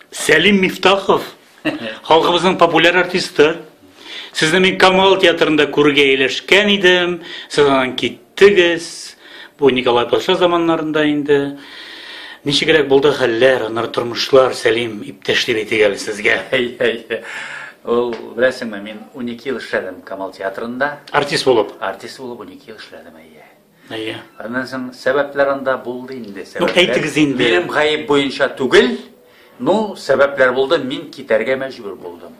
Сәлим Мифтахов, халкыбызның популяр артисты. Сезне мин Камал театрында күрергә ияләшкән идем. Сез аннан киттегез. Бу Николай патша заманнарында инде. Ничегрәк булды хәлләр, аннары тормышлар, Сәлим иптәш дип әйтик әле сезгә. Әй, әй, әй. Ул, беләсеңме, мин 12 ел эшләдем Камал театрында. Артист булып. Артист булып 12 ел эшләдем, әйе. Әйе. Аннан соң сәбәпләр анда булды инде. Ну, әйтегез инде. Минем гаеп буенча түгел, ну, сәбәпләр булды, мин китәргә мәҗбүр булдым.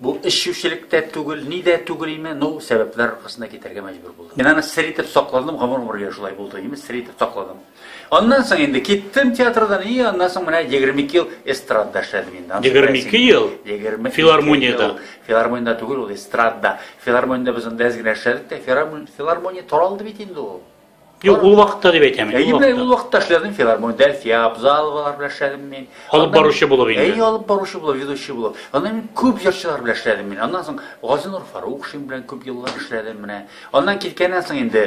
Бу эшчүчелек тә түгел, ни дә түгел име, ну, сәбәпләр аркасында китәргә мәҗбүр булдым. Мин аны сер итеп сакладым, гомер-гомергә шулай булды, имеш, сер итеп сакладым. Аннан соң инде киттем театрдан, и аннан соң менә 22 ел эстрадда эшләдем инде. 22 ел? 20 филармониядә. Филармониядә түгел ул эстрадда. Филармониядә без анда әз генә эшләдек тә, филармония таралды бит инде ул. Юк, ул вакытта дип әйтәм. Әйе, менә ул вакытта эшләдем филармониядә, Әлфия Абзаловалар белән эшләдем мин. Алып баручы булып инде. Әйе, алып баручы булып, ведущий булып. Аннан мин күп җырчылар белән эшләдем мин. Аннан соң Газинур Фарукшин белән күп еллар эшләдем менә. Аннан киткәннән соң инде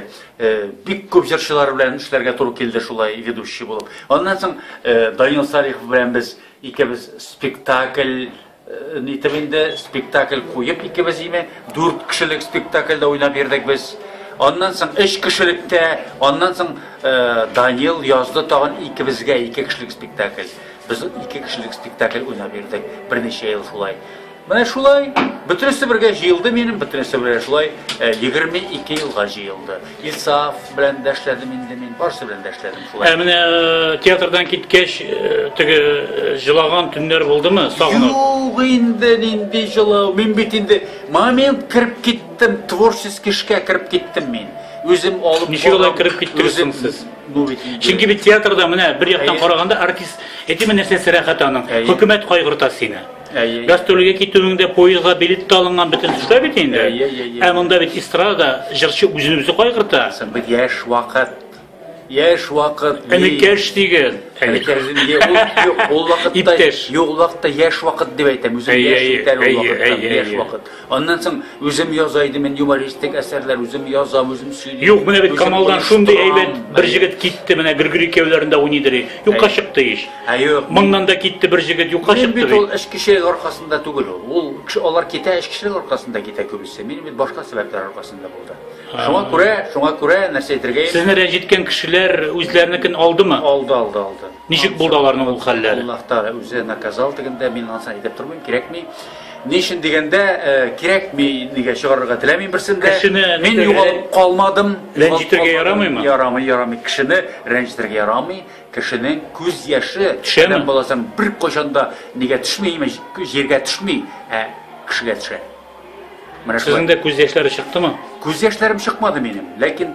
бик күп җырчылар белән эшләргә туры килде шулай ведущий булып. Аннан соң Данил Салихов белән без икебез спектакль нитеп инде спектакль куеп икебез име, дүрт кешелек спектакльдә уйнап йөрдек без. Аннан соң өч кешелектә, аннан соң Данил язды тагын икебезгә ике кешелек спектакль. Без ике кешелек спектакль уйнап йөрдек берничә ел шулай. Менә шулай, бөтенесе бергә җыелды минем, бөтенесе бергә шулай 22 э, елга җыелды. Илсаф белән дә эшләдем инде мин, барсы белән дә эшләдем шулай. Ә менә э, театрдан киткәч, э, теге җылаган төннәр булдымы, сагынып? Юк инде, нинди җылау. Мин бит инде момент кереп киттем, творческий эшкә кереп киттем мин. Үзем алып Ничек алай кереп киттегез сез? Ну бит. Чөнки бит театрда менә бер яктан караганда артист әйтеме нәрсәсе рәхәт аның. Хөкүмәт кайгырта сине. Әйе. Гастрольгә китүеңдә поездга билет тә алынган бөтен төшләр бит инде. Әйе, әйе, әйе. Ә монда бит эстрада җырчы үзен үзе кайгырта. Бит яшь вакыт. Яшь вакыт. Энекәш диген. Энекәш диген. Ул вакытта юк вакытта яшь вакыт дип әйтәм. Үзем яшь итәр ул вакытта. Яшь вакыт. Аннан соң үзем яза идем мин юмористик әсәрләр, үзем язам, үзем сөйлим. Юк, менә бит Камалдан шундый әйбәт бер җегет китте, менә Григорий Кевләрендә уйныйдыр. Юкка чыкты ич. Ә юк. Моннан да китте бер җегет юкка чыкты. Мин бит ул эш кеше аркасында түгел ул. Ул алар китә эш кешелек аркасында китә күбесе. Мин бит башка сәбәпләр аркасында булды. Шуңа күрә, шуңа күрә нәрсә әйтергә? Сезне рәнҗеткән кешеләр үзләренекен алдымы? Алды, алды, алды. Ничек булды аларның ул хәлләре? Аллаһ Тәгалә үзе наказал дигәндә мин аны әйтеп тормыйм, кирәкми. Ни өчен дигәндә, кирәкми нигә чыгарырга теләмим берсен дә. Мин югалып калмадым. Рәнҗетергә ярамыймы? Ярамый, ярамый. Кешене рәнҗетергә ярамый. Кешенең күз яше адәм баласының беркайчан да нигә төшми, имеш, җиргә төшми, ә кешегә төшә. Менә шулай. Сезнең дә күз яшьләре чыктымы? Күз яшьләрем чыкмады минем, ләкин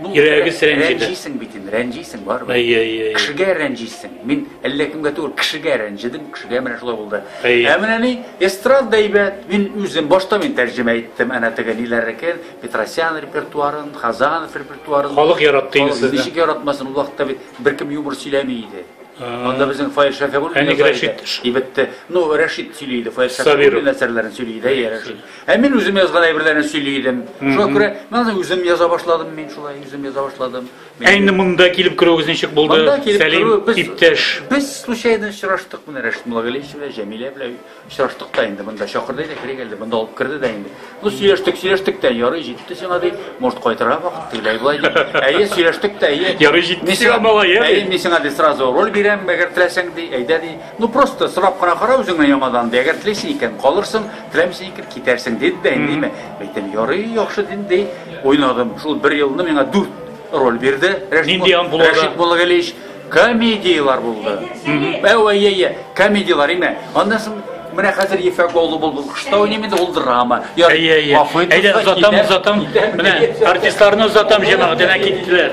ну, Йөрәгегез рәнҗиде. Рәнҗисең бит инде, рәнҗисең барыбер. Әй, әй, әй. Кешегә рәнҗисең. Мин әллә кемгә түгел, кешегә рәнҗидем, кешегә менә шулай булды. Әй. Ә менә ни, эстрада әйбәт. Мин үзем башта мин тәрҗемә иттем, әнә теге ниләрнекен, Петросян репертуарын, Хазанов репертуарын. Халык яратты инде сезне. Ничек яратмасын, ул вакытта бит беркем юмор сөйләми иде. Анда безнең Фаил Шәфигуллин Әник Рәшит ибетте. Ну, Рәшит сөйли иде, Фаил Шәфигуллин әсәрләрен сөйли иде, әйе, Рәшит. Ә мин үзем язган әйберләрне сөйли идем. Шуңа күрә мен үзем яза башладым, мин шулай үзем яза башладым. Ә инде монда килеп керүегез ничек булды? Сәлим иптәш. Без случайно очраштык менә Рәшит Муллагалиевич белән, Җәмилә белән. Очраштык та инде, монда чакырды иде, керик әле, монда алып керде дә инде. Ну, сөйләштек, сөйләштек тә, ярый җитте сиңа ди, может кайтырга вакыт, тегеләй болай ди. Әйе, сөйләштек тә, әйе. Ярый җитте Мин сиңа, малай, ә? Әйе, мин сиңа ди сразу роль бирәм, әгәр теләсәң ди, әйдә ди. Ну, просто сорап кына кара үзеңне яңадан ди, әгәр телисең икән, калырсың, теләмисең икән, китәрсең, диде дә инде, димә. Әйтәм, ярый, яхшы дим, ди. Уйнадым. Шул бер елны миңа дүрт роль бирде. Рәшит Нинди Мул- ампулада? Рәшит Муллагалиевич Комедиялар булды. Әү, әй, әй, әй, комедиялар име. Аннан соң менә хәзер ефәк олы булды. Кышта уйныйм инде ул драма. Ярый. Әйе, әйе. Гафу итегез, Әйдә, озатам, китәм, озатам. китәм. Менә артистларны озатам, җәмәгать, әнә киттеләр.